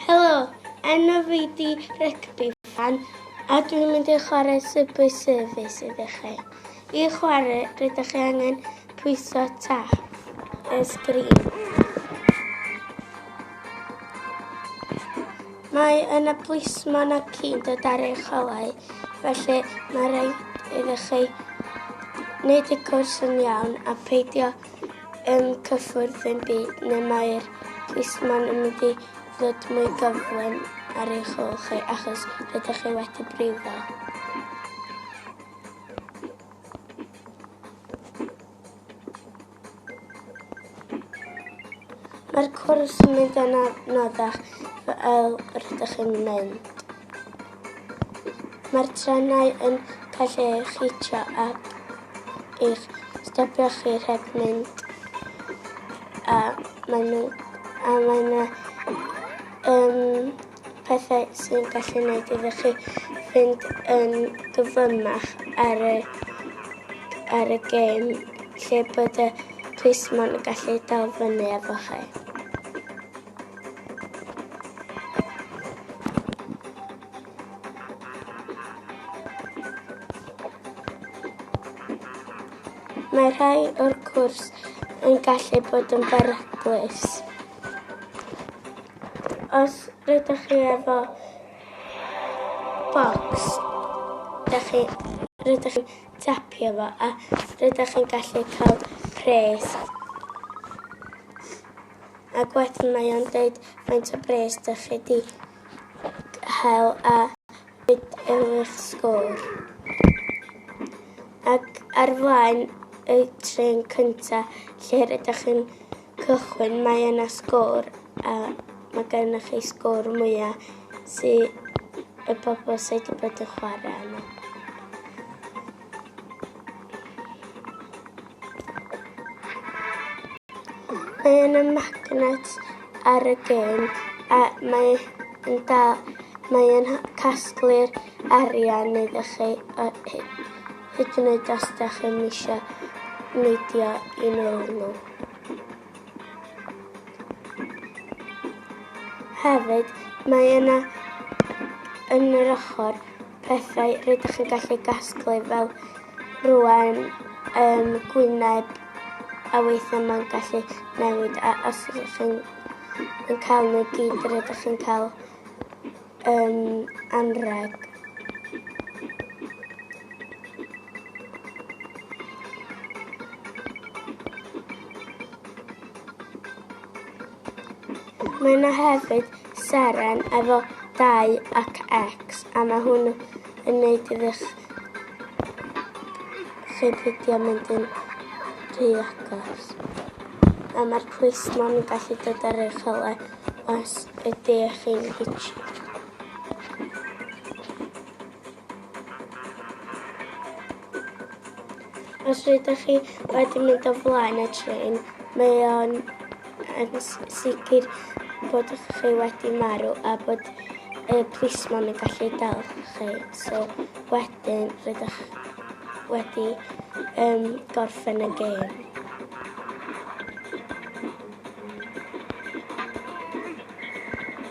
Helo, enw fi di Rygbi Fan a dwi'n mynd i chwarae Subway Service iddo chi. I chwarae, rydych chi angen pwyso tap y sgrin. Mae yna blismon a cyn dod ar ei cholau, felly mae rhaid iddo chi wneud y cwrs yn iawn a peidio yn cyffwrdd ein byd neu mae'r plismon yn mynd i ddod mwy gyflym ar eich ôl chi achos rydych chi wedi brifo. Mae'r cwrs yn mynd yn anoddach fel rydych chi'n mynd. Mae'r trenau yn cael eich hitio ac eich stopio chi rhag mynd. A maen nhw... A mae 'na yym pethau sy'n gallu gwneud iddo chi fynd yn gyflymach ar y ar y gêm lle bod y plismon yn gallu dal fyny efo chi. Mae rhai o'r cwrs yn gallu bod yn beryglus. Os rydych chi efo bocs, rydych chi, rydych chi tapio fo a rydych chi'n gallu cael pres. Ac wedyn mae o'n dweud faint o bres dych chi wedi cael a beth yw eich sgôr. Ac ar flaen y tren cynta lle rydych chi'n cychwyn mae yna sgôr a mae gennych chi sgôr mwyaf sydd y bobl sydd wedi bod yn chwarae yna. Mae yna magnet ar y gêm a mae yn da, mae yn casglu'r arian iddo chi a hyd yn oed os da chi'n eisiau neidio i mewn nhw. Hefyd, mae yna yn yr ochr pethau rydych chi'n gallu gasglu fel rwan um, gwyneb a weithiau mae'n gallu newid a os ydych chi'n yn cael nhw gyd rydych chi'n cael yn anrheg. Mae yna hefyd seren efo 2 ac X a mae hwn yn gwneud iddo'ch chi beidio mynd yn rhy agos. A mae'r plismon yn gallu dod ar eich hole Os ydych chi'n bitchy. Os rydych chi wedi mynd o flaen y trên, mae o'n yn sicr bod chi wedi marw a bod y plismon yn gallu dal chi. So wedyn rydych wedi um, gorffen y gêm.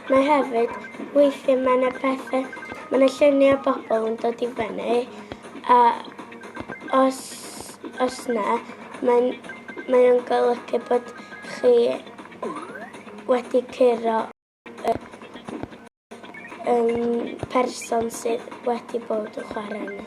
Mae hefyd, weithiau mae yna pethau, mae yna lluniau bobl yn dod i fyny, a os, os na, mae'n mae o'n golygu bod chi wedi curo y um, person sydd wedi bod yn chwarae yna.